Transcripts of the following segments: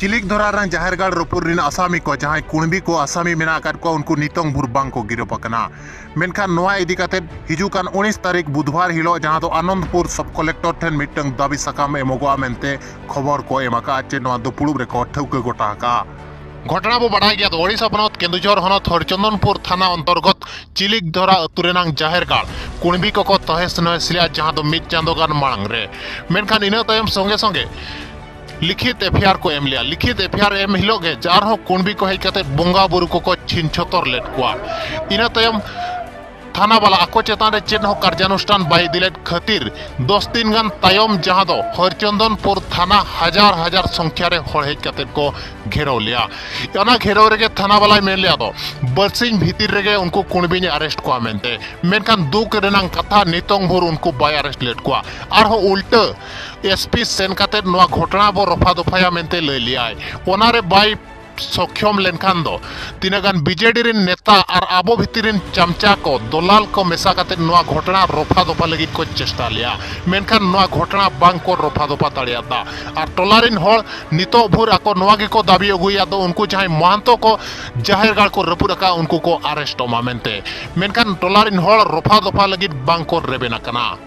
ᱪᱤᱞᱤᱠᱫᱷᱚᱨᱟ ᱨᱮᱱ ᱡᱟᱦᱮᱨ ᱜᱟᱲ ᱨᱚᱯᱩᱨ ᱨᱮᱱ ᱟᱥᱟᱢᱤ ᱠᱚ ᱡᱟᱦᱟᱸᱭ ᱠᱩᱬᱵᱤ ᱠᱚ ᱟᱥᱟᱢᱤ ᱢᱮᱱᱟᱜ ᱟᱠᱟᱫ ᱠᱚᱣᱟ ᱩᱱᱠᱩ ᱱᱤᱛᱚᱝ ᱵᱷᱩᱨ ᱵᱟᱝ ᱠᱚ ᱜᱤᱨᱚᱯ ᱟᱠᱟᱱᱟ ᱢᱮᱱᱠᱷᱟᱱ ᱱᱚᱣᱟ ᱤᱫᱤ ᱠᱟᱛᱮ ᱦᱤᱡᱩᱜ ᱠᱟᱱ ᱩᱱᱤᱥ ᱛᱟᱹᱨᱤᱠᱷ ᱵᱩᱫᱷᱵᱟᱨ ᱦᱤᱞᱳᱜ ᱡᱟᱦᱟᱸ ᱫᱚ ᱟᱱᱚᱱᱫᱯᱩᱨ ᱥᱚᱵ ᱠᱚᱞᱮᱠᱴᱚᱨ ᱴᱷᱮᱱ ᱢᱤᱫᱴᱟᱝ ᱫᱟᱹᱵᱤ ᱥᱟᱠᱟᱢ ᱮᱢᱚᱜᱚᱜᱼᱟ ᱢᱮᱱᱛᱮ ᱠᱷᱚᱵᱚᱨ ᱠᱚ ᱮᱢ ᱟᱠᱟᱫᱼᱟ ᱪᱮ ᱱᱚᱣᱟ ᱫᱚ ᱯᱩᱲᱩᱵ ᱨᱮᱠᱚ ᱴᱷᱟᱹᱣᱠᱟᱹ ᱜᱚᱴᱟ ᱟᱠᱟᱫᱼᱟ ᱜᱷᱚᱴᱚᱱᱟ ᱵᱚ ᱵᱟᱰᱟᱭ ᱜᱮᱭᱟ ᱳᱰᱤᱥᱟ ᱯᱚᱱᱚᱛ ᱠᱮᱱᱫᱩᱡᱷᱚᱨ ᱦᱚᱱᱚᱛ ᱦᱚᱨᱪᱚᱱᱫᱚᱱᱯᱩᱨ ᱛᱷᱟᱱᱟ ᱚᱱᱛᱚᱨᱜᱚᱛ ᱪᱤᱞᱤᱠᱫᱷᱚᱨᱟ ᱟᱹᱛᱩ ᱨᱮᱱᱟᱝ ᱡᱟᱦᱮᱨ ᱜᱟᱲ ᱠᱩᱬᱵᱤ ᱠᱚᱠᱚ ᱛᱚᱦᱮᱥ ᱱᱚᱦᱮᱥ ᱞᱮᱫᱼᱟ ᱡᱟᱦᱟᱸ ᱫᱚ ᱢᱤᱫ ᱪᱟᱸᱫᱚ ᱜᱟᱱ ᱢᱟᱲᱟᱝ ᱨᱮ ᱢᱮᱱᱠᱷᱟᱱ ᱤᱱᱟᱹ ᱛᱟᱭᱚᱢ ᱥᱚᱸᱜᱮ ᱥᱚᱸᱜᱮ ᱞᱤᱠᱷᱤᱛ ᱮᱯᱷᱤᱭᱟᱨ ᱠᱚ ᱮᱢ ᱞᱮᱫᱼᱟ ᱞᱤᱠᱷᱤᱛ ᱮᱯᱷᱤᱭᱟᱨ ᱮᱢ ᱦᱤᱞᱳᱜ ᱜᱮ ᱡᱟᱨ ᱦᱚᱸ ᱠᱩᱬᱵᱤ ᱠᱚ ᱦᱮᱡ ᱠᱟᱛᱮ ᱵᱚᱸᱜᱟ ᱵᱩᱨᱩ ᱠᱚᱠᱚ ᱪᱷᱤᱱ ᱪᱷᱚᱛᱚᱨ ᱞᱮᱫ ᱠᱚᱣᱟ ᱤᱱᱟᱹ ᱛᱟᱭᱚᱢ ᱛᱷᱟᱱᱟ ᱵᱟᱞᱟ ᱟᱠᱚ ᱪᱮᱛᱟᱱ ᱨᱮ ᱪᱮᱫ ᱦᱚᱸ ᱠᱟᱨᱡᱟᱱᱩᱥᱴᱷᱟᱱ ᱵᱟᱭ ᱤᱫᱤ ᱞᱮᱫ ᱠᱷᱟᱹᱛᱤᱨ ᱫᱚᱥ ᱫᱤᱱ ᱜᱟᱱ ᱛᱟᱭᱚᱢ ᱡᱟᱦᱟᱸ ᱫᱚ ᱦᱚᱨᱪᱚᱱᱫᱚᱱᱯᱩᱨ ᱛᱷᱟᱱᱟ ᱦᱟᱡᱟᱨ ᱦᱟᱡᱟᱨ ᱥᱚᱝᱠᱷᱭᱟ ᱨᱮ ᱦᱚᱲ ᱦᱮᱡ ᱠᱟᱛᱮ ᱠᱚ ᱜᱷᱮᱨᱟᱣ ᱞᱮᱫᱼᱟ ᱚᱱᱟ ᱜᱷᱮᱨᱟᱣ ᱨᱮᱜᱮ ᱛᱷᱟᱱᱟ ᱵᱟᱞᱟᱭ ᱢᱮᱱ ᱞᱮᱫᱼᱟ ᱫᱚ ᱵᱟᱨᱥᱤᱧ ᱵᱷᱤᱛᱤᱨ ᱨᱮᱜᱮ ᱩᱱᱠᱩ ᱠᱩᱬᱵᱤᱧ ᱟᱨᱮᱥᱴ ᱠᱚᱣᱟ ᱢᱮᱱᱛᱮ ᱢᱮᱱᱠᱷᱟᱱ ᱫᱩᱠ ᱨᱮᱱᱟᱜ ᱠᱟᱛᱷᱟ ᱱᱤᱛᱚᱝ ᱵᱷᱳᱨ ᱩᱱᱠᱩ ᱵᱟᱭ ᱟᱨᱮᱥᱴ ᱞᱮᱫ ᱠᱚᱣᱟ ᱟᱨᱦᱚᱸ ᱩᱞᱴᱟᱹ ᱮᱥᱯᱤ ᱥᱮᱱ ᱠᱟᱛᱮ ᱱᱚᱣᱟ ᱜᱷᱚᱴᱚᱱᱟ ᱵᱚ ᱨᱚᱯᱷᱟ ᱫᱚᱯᱷᱟᱭᱟ ᱢᱮᱱᱛᱮ ᱞᱟᱹᱭ ᱞᱮᱭᱟᱭ ᱚᱱᱟᱨᱮ ᱵᱟᱭ ᱥᱚᱠᱷᱭᱚᱢ ᱞᱮᱱᱠᱷᱟᱱ ᱫᱚ ᱛᱤᱱᱟᱹᱜ ᱜᱟᱱ ᱵᱤᱡᱮᱰᱤ ᱨᱮᱱ ᱱᱮᱛᱟ ᱟᱨ ᱟᱵᱚ ᱵᱷᱤᱛᱤᱨ ᱨᱮᱱ ᱪᱟᱢᱪᱟ ᱠᱚ ᱫᱚᱞᱟᱞ ᱠᱚ ᱢᱮᱥᱟ ᱠᱟᱛᱮ ᱱᱚᱣᱟ ᱜᱷᱚᱴᱚᱱᱟ ᱨᱚᱯᱷᱟ ᱫᱚᱯᱷᱟ ᱞᱟᱹᱜᱤᱫ ᱠᱚ ᱪᱮᱥᱴᱟ ᱞᱮᱭᱟ ᱢᱮᱱᱠᱷᱟᱱ ᱱᱚᱣᱟ ᱜᱷᱚᱴᱚᱱᱟ ᱵᱟᱝ ᱠᱚ ᱨᱚᱯᱷᱟ ᱫᱚᱯᱷᱟ ᱫᱟᱲᱮᱭᱟᱫᱟ ᱟᱨ ᱴᱚᱞᱟ ᱨᱮᱱ ᱦᱚᱲ ᱱᱤᱛᱚᱜ ᱵᱷᱳᱨ ᱟᱠᱚ ᱱᱚᱣᱟ ᱜᱮᱠᱚ ᱫᱟᱵᱤ ᱟᱹᱜᱩᱭᱟ ᱫᱚ ᱩᱱᱠᱩ ᱡᱟᱦᱟᱸᱭ ᱢᱚᱦᱟᱱᱛᱚ ᱠᱚ ᱡᱟᱦᱮᱨ ᱜᱟᱲ ᱠᱚ ᱨᱟᱹᱯᱩᱫ ᱟᱠᱟᱫ ᱩᱱᱠᱩ ᱠᱚ ᱟᱨᱮᱥᱴᱚᱜ ᱢᱟ ᱢᱮᱱᱛᱮ ᱢᱮᱱᱠᱷᱟᱱ ᱴᱚᱞᱟ ᱨᱮᱱ ᱦᱚᱲ ᱨᱚᱯᱷᱟ ᱫᱚᱯᱷᱟ ᱞᱟᱹᱜᱤᱫ ᱵᱟᱝ ᱠᱚ ᱨᱮᱵᱮᱱ ᱟᱠᱟᱱᱟ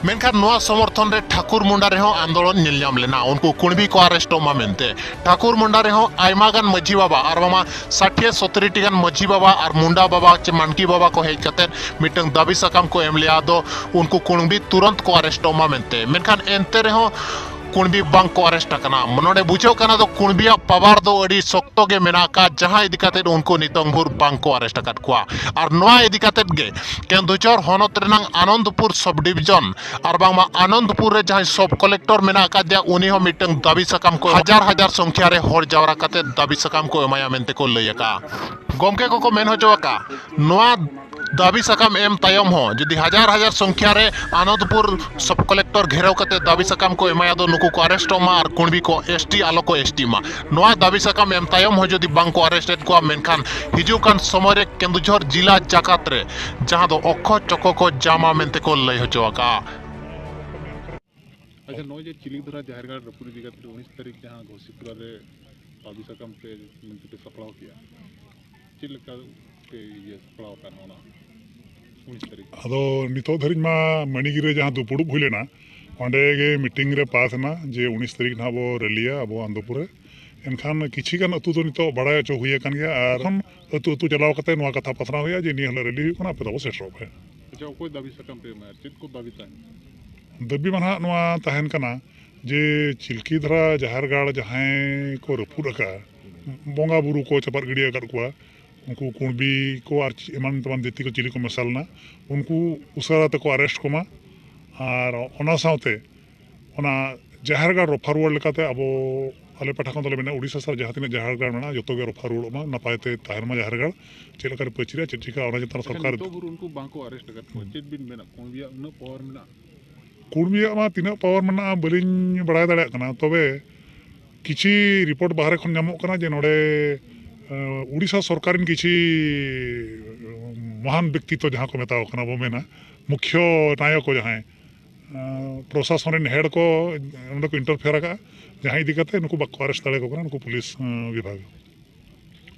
ᱢᱮᱱᱠᱷᱟᱱ ᱱᱚᱣᱟ ᱥᱚᱢᱚᱨᱛᱷᱚᱱ ᱨᱮ ᱴᱷᱟᱠᱩᱨ ᱢᱩᱱᱰᱟ ᱨᱮᱦᱚᱸ ᱟᱱᱫᱳᱞᱚᱱ ᱧᱮᱞ ᱧᱟᱢ ᱞᱮᱱᱟ ᱩᱱᱠᱩ ᱠᱩᱬᱵᱤ ᱠᱚ ᱟᱨᱮᱥᱴᱚᱜ ᱢᱟ ᱢᱮᱱᱛᱮ ᱴᱷᱟᱠᱩᱨ ᱢᱩᱱᱰᱟ ᱨᱮᱦᱚᱸ ᱟᱭᱢᱟ ᱜᱟᱱ ᱢᱟᱹᱡᱷᱤ ᱵᱟᱵᱟ ᱟᱨ ᱵᱟᱝᱢᱟ ᱥᱟᱴᱷᱤᱭᱟᱹ ᱥᱚᱛᱨᱤ ᱴᱤ ᱜᱟᱱ ᱢᱟᱹᱡᱷᱤ ᱵᱟᱵᱟ ᱟᱨ ᱢᱩᱱᱰᱟ ᱵᱟᱵᱟ ᱪᱮ ᱢᱟᱱᱠᱤ ᱵᱟᱵᱟ ᱠᱚ ᱦᱮᱡ ᱠᱟᱛᱮ ᱢᱤᱫᱴᱟᱝ ᱫᱟᱹᱵᱤ ᱥᱟᱠᱟᱢ ᱠᱚ ᱮᱢ ᱞᱮᱫᱼᱟ ᱟᱫᱚ ᱩᱱᱠᱩ ᱠᱩᱬᱵᱤ ᱛᱩᱨᱟᱹᱱᱛ ᱠᱚ ᱟᱨᱮᱥᱴᱚᱜ ᱢᱟ ᱢᱮᱱᱛᱮ ᱢᱮᱱᱠᱷᱟᱱ ᱮᱱᱛᱮ ᱨᱮᱦᱚᱸ ᱠᱩᱬᱵᱤ ᱵᱟᱝ ᱠᱚ ᱟᱨᱮᱥᱴ ᱟᱠᱟᱱᱟ ᱱᱚᱰᱮ ᱵᱩᱡᱷᱟᱹᱜ ᱠᱟᱱᱟ ᱫᱚ ᱠᱩᱬᱵᱤᱭᱟᱜ ᱯᱟᱣᱟᱨ ᱫᱚ ᱟᱹᱰᱤ ᱥᱚᱠᱛᱚ ᱜᱮ ᱢᱮᱱᱟᱜ ᱟᱠᱟᱫ ᱡᱟᱦᱟᱸ ᱤᱫᱤ ᱠᱟᱛᱮ ᱩᱱᱠᱩ ᱱᱤᱛᱚᱝ ᱵᱷᱳᱨ ᱵᱟᱝ ᱠᱚ ᱟᱨᱮᱥᱴ ᱟᱠᱟᱫ ᱠᱚᱣᱟ ᱟᱨ ᱱᱚᱣᱟ ᱤᱫᱤ ᱠᱟᱛᱮ ᱜᱮ ᱠᱮᱱᱫᱩᱡᱷᱚᱨ ᱦᱚᱱᱚᱛ ᱨᱮᱱᱟᱜ ᱟᱱᱚᱱᱫᱯᱩᱨ ᱥᱚᱵ ᱰᱤᱵᱷᱤᱡᱚᱱ ᱟᱨ ᱵᱟᱝᱢᱟ ᱟᱱᱚᱱᱫᱯᱩᱨ ᱨᱮ ᱡᱟᱦᱟᱸᱭ ᱥᱚᱵ ᱠᱚᱞᱮᱠᱴᱚᱨ ᱢᱮᱱᱟᱜ ᱟᱠᱟᱫᱮᱭᱟ ᱩᱱᱤ ᱦᱚᱸ ᱢᱤᱫᱴᱟᱝ ᱫᱟᱹᱵᱤ ᱥᱟᱠᱟᱢ ᱠᱚ ᱦᱟᱡᱟᱨ ᱦᱟᱡᱟᱨ ᱥᱚᱝᱠᱷᱭᱟ ᱨᱮ ᱦᱚᱲ ᱡᱟᱣᱨᱟ ᱠᱟᱛᱮ ᱫᱟᱹᱵᱤ ᱥᱟᱠᱟᱢ ᱠᱚ ᱮᱢᱟᱭᱟ ᱢᱮᱱᱛᱮ ᱠᱚ ᱞᱟᱹᱭ ᱟᱠᱟᱫᱼᱟ ᱜᱚᱢᱠᱮ ᱠᱚᱠᱚ ᱢᱮᱱ ᱦᱚᱪᱚ ᱟᱠᱟᱫᱼᱟ ᱱᱚᱣᱟ ᱫᱟᱹᱵᱤ ᱥᱟᱠᱟᱢ ᱮᱢ ᱛᱟᱭᱚᱢ ᱦᱚᱸ ᱡᱩᱫᱤ ᱦᱟᱡᱟᱨ ᱦᱟᱡᱟᱨ ᱥᱚᱝᱠᱷᱭᱟ ᱨᱮ ᱟᱱᱚᱸᱫᱽᱯᱩᱨ ᱥᱚᱵᱽ ᱠᱚᱞᱮᱠᱴᱚᱨ ᱜᱷᱮᱨᱟᱣ ᱠᱟᱛᱮ ᱫᱟᱹᱵᱤ ᱥᱟᱠᱟᱢ ᱠᱚ ᱮᱢᱟᱭᱟ ᱫᱚ ᱱᱩᱠᱩ ᱠᱚ ᱟᱨᱮᱥᱴᱚᱜ ᱢᱟ ᱟᱨ ᱠᱩᱬᱵᱤ ᱠᱚ ᱮᱥ ᱴᱤ ᱟᱞᱚ ᱠᱚ ᱮᱥ ᱴᱤᱜ ᱢᱟ ᱱᱚᱣᱟ ᱫᱟᱹᱵᱤ ᱥᱟᱠᱟᱢ ᱮᱢ ᱛᱟᱭᱚᱢ ᱦᱚᱸ ᱡᱩᱫᱤ ᱵᱟᱝ ᱠᱚ ᱟᱨᱮᱥᱴ ᱮᱫ ᱠᱚᱣᱟ ᱢᱮᱱᱠᱷᱟᱱ ᱦᱤᱡᱩᱜ ᱠᱟᱱ ᱥᱚᱢᱚᱭ ᱨᱮ ᱠᱮᱸᱫᱩᱡᱷᱚᱨ ᱡᱤᱞᱟ ᱡᱟᱠᱟᱛ ᱨᱮ ᱡᱟᱦᱟᱸ ᱫᱚ ᱚᱠᱠᱷᱚ ᱪᱚᱠᱚ ᱠᱚ ᱡᱟᱢᱟ ᱢᱮᱱᱛᱮ ᱠᱚ ᱞᱟᱹᱭ ᱦᱚᱪᱚ ᱟᱠᱟᱜᱼᱟ ᱟᱪᱪᱷᱟ ᱱᱚᱜᱼᱚᱭ ᱡᱮ ᱪᱤᱞᱤᱫᱷᱚᱨᱟ ᱡᱟᱦᱮᱨ ᱜᱟᱲ ᱨᱟᱹᱯᱩᱫ ᱤᱫᱤ ᱠᱟᱛᱮ ᱩᱱᱤᱥ ᱛᱟᱹᱨᱤᱠᱷ ᱡᱟᱦᱟᱸ ᱜᱷᱳᱥᱤᱯᱩᱨᱟ ᱨᱮ ᱫᱟᱹᱵᱤ ᱥᱟᱠᱟᱢ ᱯᱮ ᱢᱮᱱᱛᱮ ᱯᱮ ᱥᱟᱯᱲᱟᱣ ᱠᱮᱜᱼᱟ ᱪᱮᱫ ᱞᱮᱠᱟ ᱯᱮ ᱤᱭᱟᱹ ᱥᱟᱯᱲᱟᱣ ᱟᱠᱟᱱᱟ ᱚᱱᱟ ᱩᱱᱤᱥ ᱛᱟᱹᱨᱤᱠᱷ ᱟᱫᱚ ᱱᱤᱛᱚᱜ ᱫᱷᱟᱹᱨᱤᱡ ᱢᱟ ᱢᱟᱹᱱᱤᱜᱤᱨᱤ ᱨᱮ ᱡᱟᱦᱟᱸ ᱫᱩᱯᱲᱩᱵ ᱦᱩᱭ ᱞᱮᱱᱟ ᱚᱸᱰᱮ ᱜᱮ ᱢᱤᱴᱤᱝ ᱨᱮ ᱯᱟᱥ ᱮᱱᱟ ᱡᱮ ᱩᱱᱤᱥ ᱛᱟᱹᱨᱤᱠᱷ ᱱᱟᱦᱟᱜ ᱵᱚ ᱨᱮᱞᱤᱭᱟ ᱟᱵᱚ ᱟᱱᱫᱚᱯᱩᱨ ᱨᱮ ᱮᱱᱠᱷᱟᱱ ᱠᱤᱪᱷᱤ ᱜᱟᱱ ᱟᱹᱛᱩ ᱫᱚ ᱱᱤᱛᱚᱜ ᱵᱟᱲᱟᱭ ᱦᱚᱪᱚ ᱦᱩᱭ ᱟᱠᱟᱱ ᱜᱮᱭᱟ ᱟᱨ ᱮᱠᱷᱚᱱ ᱟᱹᱛᱩ ᱟᱹᱛᱩ ᱪᱟᱞᱟᱣ ᱠᱟᱛᱮ ᱱᱚᱣᱟ ᱠᱟᱛᱷᱟ ᱯᱟᱥᱱᱟᱣ ᱦᱩᱭᱩᱜᱼᱟ ᱡᱮ ᱱᱤᱭᱟᱹ ᱦᱤᱞᱳᱜ ᱨᱮᱞᱤ ᱦᱩᱭᱩᱜ ᱠᱟᱱᱟ ᱟᱯᱮ ᱫᱚ ᱟᱵᱚ ᱥᱮᱴᱮᱨᱚᱜ ᱯᱮ ᱟᱪᱪᱷᱟ ᱚᱠᱚᱭ ᱫᱟᱹᱵᱤ ᱥᱟᱠᱟᱢ ᱯᱮ ᱮᱢᱟ ᱪᱮᱫ ᱠᱚ ᱫᱟᱹᱵᱤ ᱛᱟᱦᱮᱱ ᱫᱟᱹᱵᱤ ᱢᱟ ᱱᱟᱦᱟᱜ ᱱᱚᱣᱟ ᱛᱟᱦᱮᱱ ᱠᱟᱱᱟ ᱡᱮ ᱪᱤᱞᱠᱤ ᱫᱷᱟᱨᱟ ᱡᱟᱦᱮᱨ ᱜᱟᱲ ᱡᱟᱦᱟᱸᱭ ᱠᱚ ᱨᱟᱹᱯᱩᱫ ᱟᱠᱟᱫᱼᱟ ᱵᱚᱸᱜᱟ ᱵᱩᱨᱩ ᱠᱚ ᱪᱟᱯᱟᱫ ᱜᱤᱰᱤ ᱟᱠᱟᱫ ᱠᱚᱣᱟ ᱩᱱᱠᱩ ᱠᱩᱬᱵᱤ ᱠᱚ ᱟᱨ ᱮᱢᱟᱱ ᱛᱮᱢᱟᱱ ᱡᱟᱹᱛᱤ ᱠᱚ ᱪᱤᱞᱤ ᱠᱚ ᱢᱮᱥᱟ ᱞᱮᱱᱟ ᱩᱱᱠᱩ ᱩᱥᱟᱹᱨᱟ ᱛᱮᱠᱚ ᱟᱨᱮᱥᱴ ᱠᱚᱢᱟ ᱟᱨ ᱚᱱᱟ ᱥᱟᱶᱛᱮ ᱚᱱᱟ ᱡᱟᱦᱮᱨ ᱜᱟᱲ ᱨᱚᱯᱷᱟ ᱨᱩᱣᱟᱹᱲ ᱞᱮᱠᱟᱛᱮ ᱟᱵᱚ ᱟᱞᱮ ᱯᱟᱦᱴᱟ ᱠᱷᱚᱱ ᱫᱚᱞᱮ ᱢᱮᱱᱟ ᱩᱲᱤᱥᱥᱟ ᱥᱟᱞᱟᱜ ᱡᱟᱦᱟᱸ ᱛᱤᱱᱟᱹᱜ ᱡᱟᱦᱮᱨ ᱜᱟᱲ ᱢᱮᱱᱟᱜᱼᱟ ᱡᱚᱛᱚ ᱜᱮ ᱨᱚᱯᱷᱟ ᱨᱩᱣᱟᱹᱲᱚᱜ ᱢᱟ ᱱᱟᱯᱟᱭ ᱛᱮ ᱛᱟᱦᱮᱱ ᱢᱟ ᱡᱟᱦᱮᱨ ᱜᱟᱲ ᱪᱮᱫ ᱞᱮᱠᱟᱨᱮ ᱯᱟᱹᱪᱨᱤᱜᱼᱟ ᱪᱮᱫ ᱪᱤᱠᱟᱹᱜᱼᱟ ᱚᱱᱟ ᱪᱮᱛᱟᱱ ᱥᱚᱨᱠᱟᱨ ᱱᱤᱛᱚᱜ ᱵᱷᱳᱨ ᱩᱱᱠᱩ ᱵᱟᱝᱠᱚ ᱟᱨᱮᱥᱴ ᱟᱠᱟᱫ ᱠᱚᱣᱟ ᱪᱮᱫ ᱵᱤᱱ ᱢᱮᱱᱟ ᱠᱩᱬᱵᱤᱭᱟᱜ ᱩᱱᱟᱹᱜ ᱯᱟᱣᱟᱨ ᱢᱮᱱᱟᱜᱼᱟ ᱠᱩᱲᱢᱤᱭᱟᱜ ᱢᱟ ᱛᱤᱱᱟᱹᱜ ᱯᱟᱣᱟᱨ ᱢᱮᱱᱟᱜᱼᱟ ᱵᱟᱹᱞᱤᱧ ᱵᱟᱲᱟᱭ ᱫᱟᱲᱮᱭᱟᱜ ᱠᱟᱱᱟ ᱛᱚᱵᱮ ᱠᱤᱪᱷᱤ ᱨᱤᱯᱳᱨᱴ ᱵᱟᱦᱨᱮ ᱠᱷᱚᱱ ᱧᱟᱢᱚᱜ ᱠᱟᱱᱟ ᱡᱮ ᱱᱚᱰᱮ ᱩᱲᱤᱥᱥᱟ ᱥᱚᱨᱠᱟᱨ ᱨᱮᱱ ᱠᱤᱪᱷᱤ ᱢᱚᱦᱟᱱ ᱵᱮᱠᱛᱤᱛᱚ ᱡᱟᱦᱟᱸ ᱠᱚ ᱢᱮᱛᱟᱣ ᱠᱟᱱᱟ ᱵᱚ ᱢᱮᱱᱟ ᱢᱩᱠᱷᱭᱚ ᱱᱟᱭᱚᱠ ᱡᱟᱦᱟᱸᱭ ᱯᱨᱚᱥᱟᱥᱚᱱ ᱨᱮᱱ ᱦᱮᱰ ᱠᱚ ᱚᱸᱰᱮ ᱠᱚ ᱤᱱᱴᱟᱨᱯᱷᱮᱭᱟᱨ ᱟᱠᱟᱫᱼᱟ ᱡᱟᱦᱟᱸ ᱤᱫᱤ ᱠᱟᱛᱮ ᱱᱩᱠᱩ ᱵᱟᱠᱚ ᱟᱨᱮᱥᱴ ᱫᱟᱲᱮᱭᱟᱠᱚ ᱠᱟᱱᱟ ᱱᱩᱠᱩ ᱯᱩᱞᱤᱥ ᱵᱤᱵᱷᱟᱜᱽ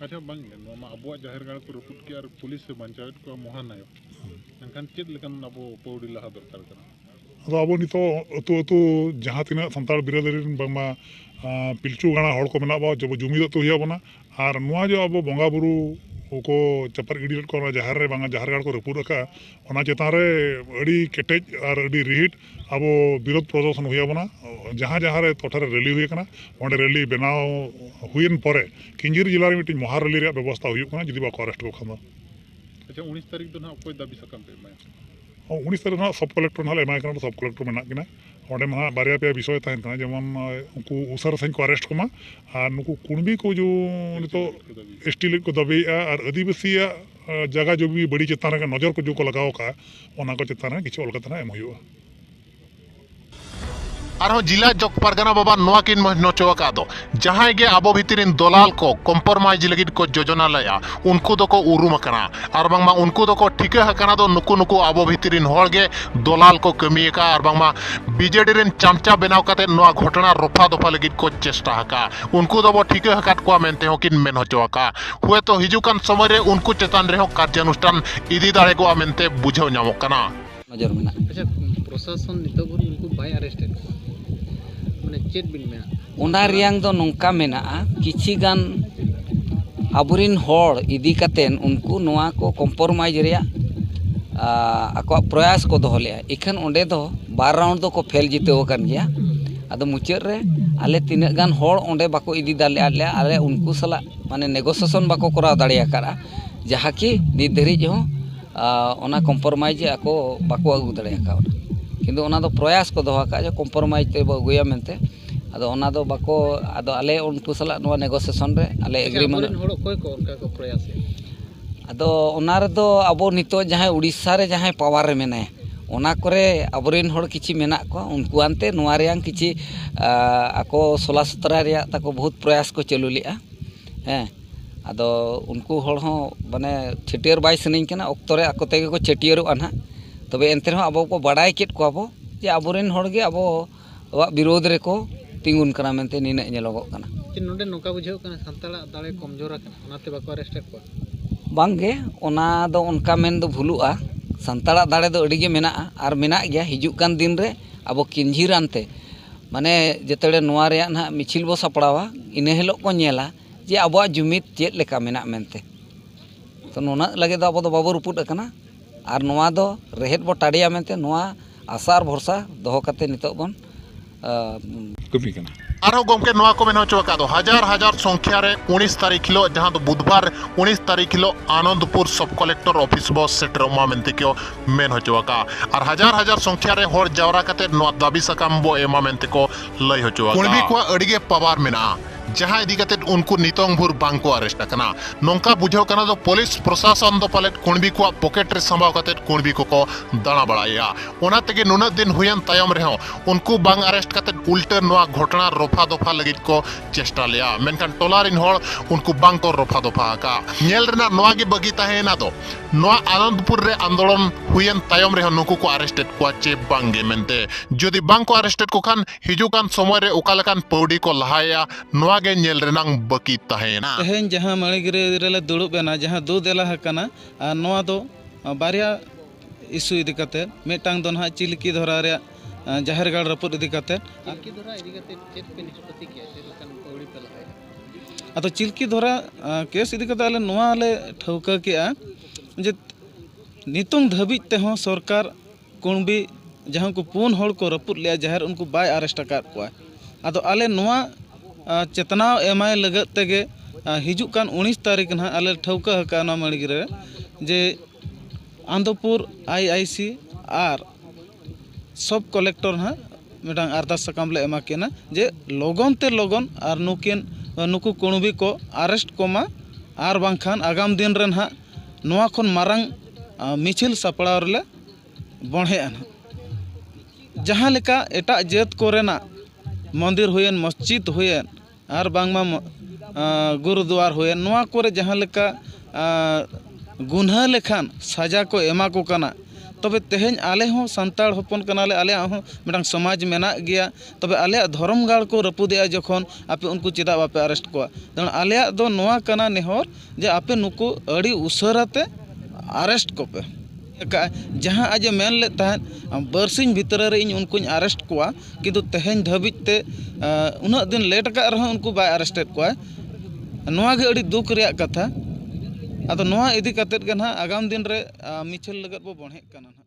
ᱟᱪᱪᱷᱟ ᱵᱟᱝ ᱜᱮ ᱱᱚᱣᱟ ᱢᱟ ᱟᱵᱚᱣᱟᱜ ᱡᱟᱦᱮᱨ ᱜᱟᱲ ᱠᱚ ᱨᱟᱹᱯᱩᱫ ᱠᱮᱫ ᱟᱨ ᱯᱩᱞᱤᱥ ᱮ ᱵᱟᱧᱪᱟᱣᱮᱫ ᱠᱚᱣᱟ ᱢᱚᱦᱟᱱᱟᱭᱚᱠ ᱮᱱᱠᱷᱟᱱ ᱪᱮᱫ ᱞᱮᱠᱟᱱ ᱟᱵᱚ ᱯᱟᱹᱣᱲᱤ ᱞᱟᱦᱟ ᱫᱚᱨᱠᱟᱨ ᱠᱟᱱᱟ ᱟᱫᱚ ᱟᱵᱚ ᱱᱤᱛᱚᱜ ᱟᱹᱛᱩ ᱟᱹᱛᱩ ᱡᱟᱦᱟᱸ ᱛᱤᱱᱟᱹᱜ ᱥᱟᱱᱛᱟᱲ ᱵᱤᱨᱟᱹᱫᱟᱹᱞᱤ ᱨᱮᱱ ᱵᱟᱝᱢᱟ ᱯᱤᱞᱪᱩ ᱜᱟᱬᱟ ᱦᱚᱲ ᱠᱚ ᱢᱮᱱᱟᱜ ᱵᱚᱱᱟ ᱡᱚᱵᱚ ᱡᱩᱢᱤᱫᱚᱜ ᱛᱮ ᱦᱩᱭᱩᱜ ᱵᱚᱱᱟ ᱟᱨ ᱱᱚᱣᱟ ᱡᱮ ᱟᱵᱚ ᱵᱚᱸᱜᱟ ᱵᱩᱨᱩ ᱠᱚ ᱪᱟᱯᱟᱫ ᱜᱤᱰᱤ ᱞᱮᱫ ᱠᱚᱣᱟ ᱚᱱᱟ ᱡᱟᱦᱮᱨ ᱨᱮ ᱵᱟᱝᱟ ᱡᱟᱦᱮᱨ ᱜᱟᱲ ᱠᱚ ᱨᱟᱹᱯᱩᱫ ᱟᱠᱟᱫᱼᱟ ᱚᱱᱟ ᱪᱮᱛᱟᱱ ᱨᱮ ᱟᱹᱰᱤ ᱠᱮᱴᱮᱡ ᱟᱨ ᱟᱹᱰᱤ ᱨᱤᱦᱤᱴ ᱟᱵᱚ ᱵᱤᱨᱳᱫᱷ ᱯᱨᱚᱫᱚᱨᱥᱚᱱ ᱦᱩᱭ ᱟᱵᱚᱱᱟ ᱡᱟᱦᱟᱸ ᱡᱟᱦᱟᱸ ᱨᱮ ᱴᱚᱴᱷᱟ ᱨᱮ ᱨᱮᱞᱤ ᱦᱩᱭ ᱟᱠᱟᱱᱟ ᱚᱸᱰᱮ ᱨᱮᱞᱤ ᱵᱮᱱᱟᱣ ᱦᱩᱭᱮᱱ ᱯᱚᱨᱮ ᱠᱤᱧᱡᱷᱤᱨ ᱡᱮᱞᱟ ᱨᱮ ᱢᱤᱫᱴᱤᱡ ᱢᱚᱦᱟ ᱨᱮᱞᱤ ᱨᱮᱭᱟᱜ ᱵᱮᱵᱚᱥᱛᱷᱟ ᱦᱩᱭᱩᱜ ᱠᱟᱱᱟ ᱡᱩᱫᱤ ᱵᱟᱠᱚ ᱟᱨᱮᱥᱴ ᱠᱚ ᱠᱷᱟᱱ ᱫᱚ ᱟᱪᱪᱷᱟ ᱩᱱᱤᱥ ᱛᱟᱹᱨᱤᱠᱷ ᱫᱚ ᱱᱟᱦᱟᱜ ᱚᱠᱚᱭ ᱫᱟᱹᱵᱤ ᱥᱟᱠᱟᱢ ᱯᱮ ᱮᱢᱟᱭᱟ ᱩᱱᱤᱥ ᱛᱟᱹᱨᱤᱠᱷ ᱱᱟᱦᱟᱜ ᱥᱚᱵ ᱠᱚᱞᱮᱠᱴᱚᱨ ᱱᱟᱦᱟᱜ ᱮᱢᱟᱭ ᱠᱟᱱᱟ ᱥᱚᱵ ᱠᱚᱞᱮᱠᱴᱚᱨ ᱢᱮᱱᱟᱜ ᱠᱤᱱᱟ ᱚᱸᱰᱮ ᱢᱟ ᱱᱟᱦᱟᱜ ᱵᱟᱨᱭᱟ ᱯᱮᱭᱟ ᱵᱤᱥᱚᱭ ᱛᱟᱦᱮᱱ ᱠᱟᱱᱟ ᱡᱮᱢᱚᱱ ᱩᱱᱠᱩ ᱩᱥᱟᱹᱨᱟ ᱥᱟᱺᱦᱤᱡ ᱠᱚ ᱟᱨᱮᱥᱴ ᱠᱚᱢᱟ ᱟᱨ ᱱᱩᱠᱩ ᱠᱩᱬᱵᱤ ᱠᱚ ᱡᱮ ᱱᱤᱛᱚᱜ ᱮᱥ ᱴᱤ ᱞᱟᱹᱜᱤᱫ ᱠᱚ ᱫᱟᱹᱵᱤᱭᱮᱫᱼᱟ ᱟᱨ ᱟᱹᱫᱤᱵᱟᱹᱥᱤᱭᱟᱜ ᱡᱟᱭᱜᱟ ᱡᱩᱢᱤ ᱵᱟᱹᱲᱤ ᱪᱮᱛᱟᱱ ᱨᱮ ᱱᱚᱡᱚᱨ ᱠᱚ ᱡᱩᱠᱚ ᱞᱟᱜᱟᱣ ᱟᱠᱟᱫᱼᱟ ᱚᱱᱟ ᱠᱚ ᱪᱮᱛᱟᱱ ᱨᱮ ᱠᱤᱪᱷᱩ ᱚᱞ ᱠᱟᱛᱮ ᱮᱢ ᱦᱩᱭᱩᱜᱼᱟ ᱟᱨᱦᱚᱸ ᱡᱤᱞᱟ ᱡᱚᱜᱽ ᱯᱟᱨᱜᱟᱱᱟ ᱵᱟᱵᱟ ᱱᱚᱣᱟ ᱠᱤᱱ ᱢᱟᱹᱱ ᱦᱚᱪᱚ ᱟᱠᱟᱫ ᱫᱚ ᱡᱟᱦᱟᱸᱭ ᱜᱮ ᱟᱵᱚ ᱵᱷᱤᱛᱤᱨ ᱨᱮᱱ ᱫᱚᱞᱟᱞ ᱠᱚ ᱠᱚᱢᱯᱨᱚᱢᱟᱭᱤᱡᱽ ᱞᱟᱹᱜᱤᱫ ᱠᱚ ᱡᱳᱡᱚᱱᱟ ᱞᱮᱫᱼᱟ ᱩᱱᱠᱩ ᱫᱚᱠᱚ ᱩᱨᱩᱢ ᱟᱠᱟᱱᱟ ᱟᱨ ᱵᱟᱝᱢᱟ ᱩᱱᱠᱩ ᱫᱚᱠᱚ ᱴᱷᱤᱠᱟᱹ ᱟᱠᱟᱱᱟ ᱫᱚ ᱱᱩᱠᱩ ᱱᱩᱠᱩ ᱟᱵᱚ ᱵᱷᱤᱛᱤᱨ ᱨᱮᱱ ᱦᱚᱲ ᱜᱮ ᱫᱚᱞᱟᱞ ᱠᱚ ᱠᱟᱹᱢᱤ ᱟᱠᱟᱫᱼᱟ ᱟᱨ ᱵᱟᱝᱢᱟ ᱵᱤᱡᱮᱰᱤ ᱨᱮᱱ ᱪᱟᱢᱪᱟ ᱵᱮᱱᱟᱣ ᱠᱟᱛᱮ ᱱᱚᱣᱟ ᱜᱷᱚᱴᱚᱱᱟ ᱨᱚᱯᱷᱟ ᱫᱚᱯᱷᱟ ᱞᱟᱹᱜᱤᱫ ᱠᱚ ᱪᱮᱥᱴᱟ ᱟᱠᱟᱫᱼᱟ ᱩᱱᱠᱩ ᱫᱚᱵᱚ ᱴᱷᱤᱠᱟᱹ ᱟᱠᱟᱫ ᱠᱚᱣᱟ ᱢᱮᱱᱛᱮ ᱦᱚᱸᱠᱤᱱ ᱢᱮᱱ ᱦᱚᱪᱚ ᱟᱠᱟᱫᱼᱟ ᱦᱳᱭᱛᱳ ᱦᱤᱡᱩᱜ ᱠᱟᱱ ᱥᱚᱢᱚᱭ ᱨᱮ ᱩᱱᱠᱩ ᱪᱮᱛᱟᱱ ᱨᱮᱦᱚᱸ ᱠᱟᱨᱡᱟᱱᱩᱥᱴᱷᱟᱱ ᱤᱫᱤ ᱫᱟᱲᱮ ᱠᱚᱜᱼᱟ ᱢᱮᱱᱛᱮ ᱵᱩᱡᱷᱟᱹᱣ ᱧᱟᱢᱚᱜ ᱠᱟᱱᱟ ᱱᱚᱡᱚᱨ ᱢᱮᱱᱟᱜᱼᱟ ᱟᱪᱪᱷᱟ ᱯᱨᱚᱥᱟᱥᱚᱱ ᱱᱤᱛᱚᱜ ᱵᱷᱳᱨ ᱩᱱᱠᱩ ᱵᱟᱭ ᱟᱨᱮᱥᱴ ᱮᱫ ᱠᱚᱣᱟ ᱢᱟᱱᱮ ᱪᱮᱫ ᱵᱤᱱ ᱢᱮᱱᱟ ᱚᱱᱟ ᱨᱮᱭᱟᱝ ᱫᱚ ᱱᱚᱝᱠᱟ ᱢᱮᱱᱟᱜᱼᱟ ᱠᱤᱪᱷᱤ ᱜᱟᱱ ᱟᱵᱚᱨᱮᱱ ᱦᱚᱲ ᱤᱫᱤ ᱠᱟᱛᱮᱫ ᱩᱱᱠᱩ ᱱᱚᱣᱟ ᱠᱚ ᱠᱚᱢᱯᱨᱚᱢᱟᱭᱤᱡᱽ ᱨᱮᱭᱟᱜ ᱟᱠᱚᱣᱟᱜ ᱯᱨᱚᱭᱟᱥ ᱠᱚ ᱫᱚᱦᱚ ᱞᱮᱫᱼᱟ ᱤᱠᱷᱟᱹᱱ ᱚᱸᱰᱮ ᱫᱚ ᱵᱟᱨ ᱨᱟᱣᱩᱱᱰ ᱫᱚᱠᱚ ᱯᱷᱮᱞ ᱡᱤᱛᱟᱹᱣ ᱟᱠᱟᱱ ᱜᱮᱭᱟ ᱟᱫᱚ ᱢᱩᱪᱟᱹᱫ ᱨᱮ ᱟᱞᱮ ᱛᱤᱱᱟᱹᱜ ᱜᱟᱱ ᱦᱚᱲ ᱚᱸᱰᱮ ᱵᱟᱠᱚ ᱤᱫᱤ ᱫᱟᱲᱮᱭᱟᱫ ᱞᱮᱭᱟ ᱟᱞᱮ ᱩᱱᱠᱩ ᱥᱟᱞᱟᱜ ᱢᱟᱱᱮ ᱱᱮᱜᱚᱥᱮᱥᱚᱱ ᱵᱟᱠᱚ ᱠᱚᱨᱟᱣ ᱫᱟᱲᱮ ᱟᱠᱟᱫᱼᱟ ᱡᱟᱦᱟᱸ ᱠᱤ ᱱᱤᱛ ᱫᱷᱟᱹᱨᱤᱡ ᱦᱚᱸ ᱚᱱᱟ ᱠᱚᱢᱯᱨᱳᱢᱟᱭᱤᱡᱽ ᱟᱠᱚ ᱵᱟᱠᱚ ᱟᱹᱜᱩ ᱫᱟᱲᱮ ᱠᱟᱣᱫᱟ ᱠᱤᱱᱛᱩ ᱚᱱᱟ ᱫᱚ ᱯᱨᱚᱭᱟᱥ ᱠᱚ ᱫᱚᱦᱚ ᱟᱠᱟᱫᱼᱟ ᱡᱮ ᱠᱚᱢᱯᱨᱳᱢᱟᱭᱤᱡᱽ ᱛᱮᱵᱚ ᱟᱹᱜᱩᱭᱟ ᱢᱮᱱᱛᱮ ᱟᱫᱚ ᱚᱱᱟ ᱫᱚ ᱵᱟᱠᱚ ᱟᱫᱚ ᱟᱞᱮ ᱩᱱᱠᱩ ᱥᱟᱞᱟᱜ ᱱᱚᱣᱟ ᱱᱮᱜᱚᱥᱮᱥᱚᱱ ᱨᱮ ᱟᱞᱮ ᱮᱜᱽᱨᱤᱢᱮᱱᱴ ᱟᱵᱚ ᱨᱮᱱ ᱦᱚᱲ ᱚᱠᱚᱭ ᱠᱚ ᱚᱱᱠᱟ ᱠᱚ ᱯᱨᱚᱭᱟᱥᱮᱫᱼᱟ ᱟᱫᱚ ᱚᱱᱟ ᱨᱮᱫᱚ ᱟᱵᱚ ᱱᱤᱛᱚᱜ ᱡᱟᱦᱟᱸᱭ ᱳᱰᱤᱥᱟ ᱨᱮ ᱡᱟᱦᱟᱸᱭ ᱯᱟᱣᱟᱨ ᱨᱮ ᱢᱮᱱᱟᱭᱟ ᱚᱱᱟ ᱠᱚᱨᱮ ᱟᱵᱚ ᱨᱮᱱ ᱦᱚᱲ ᱠᱤᱪᱷᱩ ᱢᱮᱱᱟᱜ ᱠᱚᱣᱟ ᱩᱱᱠᱩ ᱟᱱᱛᱮ ᱱᱚᱣᱟ ᱨᱮᱭᱟᱜ ᱠᱤᱪᱷᱤ ᱟᱠᱚ ᱥᱳᱞᱟ ᱥᱩᱛᱨᱟ ᱨᱮᱭᱟᱜ ᱛᱟᱠᱚ ᱵᱚᱦᱩᱛ ᱯᱨᱚᱭᱟᱥ ᱠᱚ ᱪᱟᱹᱞᱩ ᱞᱮᱜᱼᱟ ᱦᱮᱸ ᱟᱫᱚ ᱩᱱᱠᱩ ᱦᱚᱲ ᱦᱚᱸ ᱢᱟᱱᱮ ᱪᱷᱟᱹᱴᱭᱟᱹᱨ ᱵᱟᱭ ᱥᱟᱱᱟᱧ ᱠᱟᱱᱟ ᱚᱠᱛᱚ ᱨᱮ ᱟᱠᱚ ᱛᱮᱜᱮ ᱠᱚ ᱪᱷᱟᱹᱴᱭᱟᱹᱨᱚᱜᱼᱟ ᱦᱟᱸᱜ ᱛᱚᱵᱮ ᱮᱱᱛᱮ ᱨᱮᱦᱚᱸ ᱟᱵᱚ ᱠᱚ ᱵᱟᱲᱟᱭ ᱠᱮᱜ ᱠᱚᱣᱟ ᱵᱚ ᱡᱮ ᱟᱵᱚ ᱨᱮᱱ ᱦᱚᱲ ᱜᱮ ᱟᱵᱚ ᱟᱜ ᱵᱤᱨᱳᱫᱷ ᱨᱮᱠᱚ ᱛᱤᱸᱜᱩᱱ ᱠᱟᱱᱟ ᱢᱮᱱᱛᱮ ᱱᱤᱱᱟᱹᱜ ᱧᱮᱞᱚᱜᱚᱜ ᱠᱟᱱᱟ ᱱᱚᱰᱮ ᱱᱚᱝᱠᱟ ᱵᱩᱡᱷᱟᱹᱜ ᱠᱟᱱᱟ ᱥᱟᱱᱛᱟᱲᱟᱜ ᱫᱟᱲᱮ ᱠᱚᱢ ᱡᱳᱨ ᱟᱠᱟᱱᱟ ᱚᱱᱟᱛᱮ ᱵᱟᱠᱚ ᱟᱨᱮᱥᱴ ᱮᱫ ᱠᱚᱣᱟ ᱵᱟᱝ ᱜᱮ ᱚᱱᱟ ᱫᱚ ᱚᱱᱠᱟ ᱢᱮᱱ ᱫᱚ ᱵᱷᱩᱞᱩᱜᱼᱟ ᱥᱟᱱᱛᱟᱲᱟᱜ ᱫᱟᱲᱮ ᱫᱚ ᱟᱹᱰᱤ ᱜᱮ ᱢᱮᱱᱟᱜᱼᱟ ᱟᱨ ᱢᱮᱱᱟᱜ ᱜᱮᱭᱟ ᱦᱤᱡᱩᱜ ᱠᱟᱱ ᱫᱤᱱ ᱨᱮ ᱟᱵᱚ ᱠᱤᱧᱡᱷᱤᱨ ᱟᱱᱛᱮ ᱢᱟᱱᱮ ᱡᱮᱛᱮ ᱦᱚᱲ ᱱᱚᱣᱟ ᱨᱮᱭᱟᱜ ᱦᱟᱸᱜ ᱢᱤᱪᱷᱤᱞ ᱵᱚᱱ ᱥᱟᱯᱲᱟᱣᱟ ᱤᱱᱟᱹ ᱦᱤᱞᱳᱜ ᱠᱚ ᱧᱮᱞᱟ ᱡᱮ ᱟᱵᱚᱣᱟᱜ ᱡᱩᱢᱤᱫ ᱪᱮᱫ ᱞᱮᱠᱟ ᱢᱮᱱᱟᱜᱼᱟ ᱢᱮᱱᱛᱮ ᱛᱳ ᱱᱩᱱᱟᱹᱜ ᱞᱟᱹᱜᱤᱫ ᱫᱚ ᱟᱵᱚ ᱫᱚ ᱵᱟᱵᱚ ᱨᱟᱹᱯᱩᱫ ᱟᱠᱟᱱᱟ ᱟᱨ ᱱᱚᱣᱟ ᱫᱚ ᱨᱮᱦᱮᱫ ᱵᱚᱱ ᱴᱟᱰᱮᱭᱟ ᱢᱮᱱᱛᱮ ᱱᱚᱣᱟ ᱟᱥᱟ ᱟᱨ ᱵᱷᱚᱨᱥᱟ ᱫᱚᱦᱚ ᱠᱟᱛᱮᱫ ᱱᱤᱛᱚᱜ ᱵᱚᱱ ᱠᱟᱹᱢᱤ ᱠᱟᱱᱟ ᱟᱨᱦᱚᱸ ᱜᱚᱢᱠᱮ ᱱᱚᱣᱟ ᱠᱚ ᱢᱮᱱ ᱦᱚᱪᱚ ᱟᱠᱟᱫ ᱫᱚ ᱦᱟᱡᱟᱨ ᱦᱟᱡᱟᱨ ᱥᱚᱝᱠᱷᱭᱟ ᱨᱮ ᱩᱱᱤᱥ ᱛᱟᱹᱨᱤᱠᱷ ᱦᱤᱞᱳᱜ ᱡᱟᱦᱟᱸ ᱫᱚ ᱵᱩᱫᱷᱵᱟᱨ ᱩᱱᱤᱥ ᱛᱟᱹᱨᱤᱠᱷ ᱦᱤᱞᱳᱜ ᱟᱱᱚᱱᱫᱯᱩᱨ ᱥᱚᱵ ᱠᱚᱞᱮᱠᱴᱚᱨ ᱚᱯᱷᱤᱥ ᱵᱚ ᱥᱮᱴᱮᱨᱚᱜ ᱢᱟ ᱢᱮᱱᱛᱮ ᱠᱚ ᱢᱮᱱ ᱦᱚᱪᱚ ᱟᱠᱟᱫᱼᱟ ᱟᱨ ᱦᱟᱡᱟᱨ ᱦᱟᱡᱟᱨ ᱥᱚᱝᱠᱷᱭᱟ ᱨᱮ ᱦᱚᱲ ᱡᱟᱣᱨᱟ ᱠᱟᱛᱮ ᱱᱚᱣᱟ ᱫᱟᱹᱵᱤ ᱥᱟᱠᱟᱢ ᱵᱚ ᱮᱢᱟ ᱢᱮᱱᱛᱮ ᱠᱚ ᱞᱟᱹᱭ ᱦᱚᱪᱚ ᱟᱠᱟᱫᱼᱟ ᱠᱩᱬᱵᱤ ᱠᱚᱣᱟᱜ ᱟᱹᱰᱤ ᱜᱮ ᱯᱟᱣᱟᱨ ᱢᱮᱱᱟᱜᱼᱟ ᱡᱟᱦᱟᱸ ᱤᱫᱤ ᱠᱟᱛᱮ ᱩᱱᱠᱩ ᱱᱤᱛᱚᱝ ᱵᱷᱳᱨ ᱵᱟᱝ ᱠᱚ ᱟᱨᱮᱥᱴ ᱟᱠᱟᱱᱟ ᱱᱚᱝᱠᱟ ᱵᱩᱡᱷᱟᱹᱣ ᱠᱟᱱᱟ ᱫᱚ ᱯᱩᱞᱤᱥ ᱯᱨᱚᱥᱟᱥᱚᱱ ᱫᱚ ᱯᱟᱞᱮᱫ ᱠᱩᱬᱵᱤ ᱠᱚᱣᱟᱜ ᱯᱚᱠᱮᱴ ᱨᱮ ᱥᱟᱢᱵᱟᱣ ᱠᱟᱛᱮ ᱠᱩᱬᱵᱤ ᱠᱚᱠᱚ ᱫᱟᱬᱟ ᱵᱟᱲᱟᱭᱮᱜᱼᱟ ᱚᱱᱟ ᱛᱮᱜᱮ ᱱᱩᱱᱟᱹᱜ ᱫᱤᱱ ᱦᱩᱭᱮᱱ ᱛᱟᱭᱚᱢ ᱨᱮᱦᱚᱸ ᱩᱱᱠᱩ ᱵᱟᱝ ᱟᱨᱮᱥᱴ ᱠᱟᱛᱮ ᱩᱞᱴᱟᱹ ᱱᱚᱣᱟ ᱜᱷᱚᱴᱚᱱᱟ ᱨᱚᱯᱷᱟ ᱫᱚᱯᱷᱟ ᱞᱟᱹᱜᱤᱫ ᱠᱚ ᱪᱮᱥᱴᱟ ᱞᱮᱜᱼᱟ ᱢᱮᱱᱠᱷᱟᱱ ᱴᱚᱞᱟ ᱨᱤᱱ ᱦᱚᱲ ᱩᱱᱠᱩ ᱵᱟᱝ ᱠᱚ ᱨᱚᱯᱷᱟ ᱫᱚᱯᱷᱟ ᱟᱠᱟᱜᱼᱟ ᱧᱮᱞ ᱨᱮᱱᱟᱜ ᱱᱚᱣᱟ ᱜᱮ ᱵᱟᱹᱜᱤ ᱛᱟᱦᱮᱸᱭᱮᱱᱟ ᱫᱚ ᱱᱚᱣᱟ ᱟᱱᱚᱱᱫᱯᱩᱨ ᱨᱮ ᱟᱱᱫᱳᱞᱚᱱ ᱦᱩᱭᱮᱱ ᱛᱟᱭᱚᱢ ᱨᱮᱦᱚᱸ ᱱᱩᱠᱩ ᱠᱚ ᱟᱨᱮᱥᱴᱮᱰ ᱠᱚᱣᱟ ᱪᱮ ᱵᱟᱝᱜᱮ ᱢᱮᱱᱛᱮ ᱡᱩᱫᱤ ᱵᱟᱝ ᱠᱚ ᱟᱨᱮᱥᱴᱮᱰ ᱠᱚ ᱠᱷᱟᱱ ᱦᱤᱡᱩᱜ ᱠᱟᱱ ᱥᱚᱢᱚᱭ ᱨᱮ ᱚᱠᱟ ᱞᱮᱠᱟᱱ ᱯᱟᱹᱣᱲᱤ ᱠᱚ ᱞᱟᱦᱟᱭᱟ ᱱᱚᱣᱟ ᱜᱮ ᱧᱮᱞ ᱨᱮᱱᱟᱝ ᱵᱟᱹᱠᱤ ᱛᱟᱦᱮᱸᱭᱮᱱᱟ᱾ ᱛᱮᱦᱮᱧ ᱡᱟᱦᱟᱸ ᱢᱟᱹᱬᱤ ᱜᱤᱨᱟᱹ ᱨᱮᱞᱮ ᱫᱩᱲᱩᱵ ᱮᱱᱟ ᱡᱟᱦᱟᱸ ᱫᱩ ᱫᱮᱞᱟ ᱟᱠᱟᱱᱟ ᱟᱨ ᱱᱚᱣᱟ ᱫᱚ ᱵᱟᱨᱭᱟ ᱤᱥᱩ ᱤᱫᱤ ᱠᱟᱛᱮ ᱢᱤᱫᱴᱟᱝ ᱫᱚ ᱱᱟᱦᱟᱜ ᱪᱤᱞᱠᱤ ᱫᱷᱚᱨᱟ ᱨᱮᱭᱟᱜ ᱡᱟᱦᱮᱨ ᱜᱟᱲ ᱨᱟᱹᱯᱩᱫ ᱤᱫᱤ ᱠᱟᱛᱮ᱾ ᱪᱤᱞᱠᱤ ᱫᱷᱚᱨᱟ ᱤᱫᱤ ᱠᱟᱛᱮ ᱪᱮᱫ ᱯᱮ ᱱᱤᱥᱯᱚᱛᱤ ᱠᱮᱫᱼᱟ ᱪᱮᱫ ᱞᱮᱠᱟᱱ ᱯᱟᱹᱣᱲᱤ ᱯᱮ ᱞᱟᱦᱟᱭᱟ? ᱟᱫᱚ ᱪᱤᱞᱠᱤ ᱫᱷᱚᱨᱟ ᱠᱮᱥ ᱤᱫᱤ ᱠᱟᱛᱮ ᱟᱞᱮ ᱱᱚᱣᱟ ᱞᱮ ᱴᱷᱟᱹᱣᱠᱟᱹ ᱠᱮᱫᱼᱟ ᱡᱮ ᱱᱤᱛᱚᱝ ᱫᱷᱟᱹᱵᱤᱡ ᱛᱮᱦᱚᱸ ᱥᱚᱨᱠᱟᱨ ᱠᱩᱬᱵᱤ ᱡᱟᱦᱟᱸᱭ ᱩᱱᱠᱩ ᱯᱩᱱ ᱦᱚᱲ ᱠᱚ ᱨᱟᱹᱯᱩᱫ ᱞᱮᱜᱼᱟ ᱡᱟᱦᱮᱨ ᱩᱱᱠᱩ ᱵᱟᱭ ᱟᱨᱮᱥᱴ ᱟᱠᱟᱫ ᱠᱚᱣᱟ ᱟᱫᱚ ᱟᱞᱮ ᱱᱚᱣᱟ ᱪᱮᱛᱱᱟᱣ ᱮᱢᱟᱭ ᱞᱟᱹᱜᱤᱫ ᱛᱮᱜᱮ ᱦᱤᱡᱩᱜ ᱠᱟᱱ ᱩᱱᱤᱥ ᱛᱟᱹᱨᱤᱠᱷ ᱦᱟᱸᱜ ᱟᱞᱮ ᱴᱷᱟᱹᱣᱠᱟᱹ ᱟᱠᱟᱫᱼᱟ ᱱᱚᱣᱟ ᱢᱟᱹᱲᱜᱤ ᱨᱮ ᱡᱮ ᱟᱱᱚᱱᱫᱚᱯᱩᱨ ᱟᱭ ᱟᱭ ᱥᱤ ᱟᱨ ᱥᱚᱵᱽ ᱠᱚᱞᱮᱠᱴᱚᱨ ᱦᱟᱸᱜ ᱢᱤᱫᱴᱟᱝ ᱟᱨᱫᱟᱥ ᱥᱟᱠᱟᱢ ᱞᱮ ᱮᱢᱟ ᱠᱤᱱᱟ ᱡᱮ ᱞᱚᱜᱚᱱ ᱛᱮ ᱞᱚᱜᱚᱱ ᱟᱨ ᱱᱩᱠᱤᱱ ᱱᱩᱠᱩ ᱠᱩᱬᱵᱤ ᱠᱚ ᱟᱨᱮᱥᱴ ᱠᱚᱢᱟ ᱟᱨ ᱵᱟᱝᱠᱷᱟᱱ ᱟᱜᱟᱢ ᱫᱤᱱ ᱨᱮ ᱦᱟᱸᱜ ᱱᱚᱣᱟ ᱠᱷᱚᱱ ᱢᱟᱨᱟᱝ ᱢᱤᱪᱷᱤᱞ ᱥᱟᱯᱲᱟᱣ ᱨᱮᱞᱮ ᱵᱚᱲᱦᱮᱜᱼᱟ ᱱᱟᱦᱟᱜ ᱡᱟᱦᱟᱸ ᱞᱮᱠᱟ ᱮᱴᱟᱜ ᱡᱟᱹᱛ ᱠᱚᱨᱮᱱᱟᱜ ᱢᱚᱱᱫᱤᱨ ᱦᱩᱭᱮᱱ ᱢᱚᱥᱡᱤᱫᱽ ᱦᱩᱭᱮᱱ ᱟᱨ ᱵᱟᱝᱢᱟ ᱜᱩᱨᱩᱫᱩᱣᱟᱨ ᱦᱩᱭᱮᱱ ᱱᱚᱣᱟ ᱠᱚᱨᱮ ᱡᱟᱦᱟᱸ ᱞᱮᱠᱟ ᱜᱩᱱᱦᱟᱹ ᱞᱮᱠᱷᱟᱱ ᱥᱟᱡᱟ ᱠᱚ ᱮᱢᱟ ᱠᱚ ᱠᱟᱱᱟ ᱛᱚᱵᱮ ᱛᱮᱦᱮᱧ ᱟᱞᱮ ᱦᱚᱸ ᱥᱟᱱᱛᱟᱲ ᱦᱚᱯᱚᱱ ᱠᱟᱱᱟᱞᱮ ᱟᱞᱮᱭᱟᱜ ᱦᱚᱸ ᱢᱤᱫᱴᱟᱝ ᱥᱚᱢᱟᱡᱽ ᱢᱮᱱᱟᱜ ᱜᱮᱭᱟ ᱛᱚᱵᱮ ᱟᱞᱮᱭᱟᱜ ᱫᱷᱚᱨᱚᱢ ᱜᱟᱲ ᱠᱚ ᱨᱟᱹᱯᱩᱫᱮᱜᱼᱟ ᱡᱚᱠᱷᱚᱱ ᱟᱯᱮ ᱩᱱᱠᱩ ᱪᱮᱫᱟᱜ ᱵᱟᱯᱮ ᱟᱨᱮᱥᱴ ᱠᱚᱣᱟ ᱛᱮᱢᱚᱱ ᱟᱞᱮᱭᱟᱜ ᱫᱚ ᱱᱚᱣᱟ ᱠᱟᱱᱟ ᱱᱮᱦᱚᱨ ᱡᱮ ᱟᱯᱮ ᱱᱩᱠᱩ ᱟᱹᱰᱤ ᱩᱥᱟᱹᱨᱟ ᱛᱮ ᱟᱨᱮᱥᱴ ᱠᱚᱯᱮ ᱟᱠᱟᱫᱼᱟ ᱡᱟᱦᱟᱸ ᱟᱡ ᱮ ᱢᱮᱱ ᱞᱮᱫ ᱛᱟᱦᱮᱸᱫ ᱵᱟᱹᱨᱥᱤᱧ ᱵᱷᱤᱛᱨᱤ ᱨᱮ ᱤᱧ ᱩᱱᱠᱩᱧ ᱟᱨᱮᱥᱴ ᱠᱚᱣᱟ ᱠᱤᱱᱛᱩ ᱛᱮᱦᱮᱧ ᱫᱷᱟᱹᱵᱤᱡ ᱛᱮ ᱩᱱᱟᱹᱜ ᱫᱤᱱ ᱞᱮᱴ ᱟᱠᱟᱫ ᱨᱮᱦᱚᱸ ᱩᱱᱠᱩ ᱵᱟᱭ ᱟᱨᱮᱥᱴᱮᱜ ᱠᱚᱣᱟ ᱱᱚᱣᱟ ᱜᱮ ᱟᱹᱰᱤ ᱫᱩᱠ ᱨᱮᱭᱟᱜ ᱠᱟᱛᱷᱟ ᱟᱫᱚ ᱱᱚᱣᱟ ᱤᱫᱤ ᱠᱟᱛᱮᱫ ᱜᱮ ᱦᱟᱸᱜ ᱟᱜᱟᱢ ᱫᱤᱱ ᱨᱮ ᱢᱤᱪᱷᱤᱞ ᱞᱟᱹᱜᱤᱫ ᱵᱚᱱ ᱵᱚᱲᱦᱮᱜ ᱠᱟᱱᱟ ᱦᱟᱸᱜ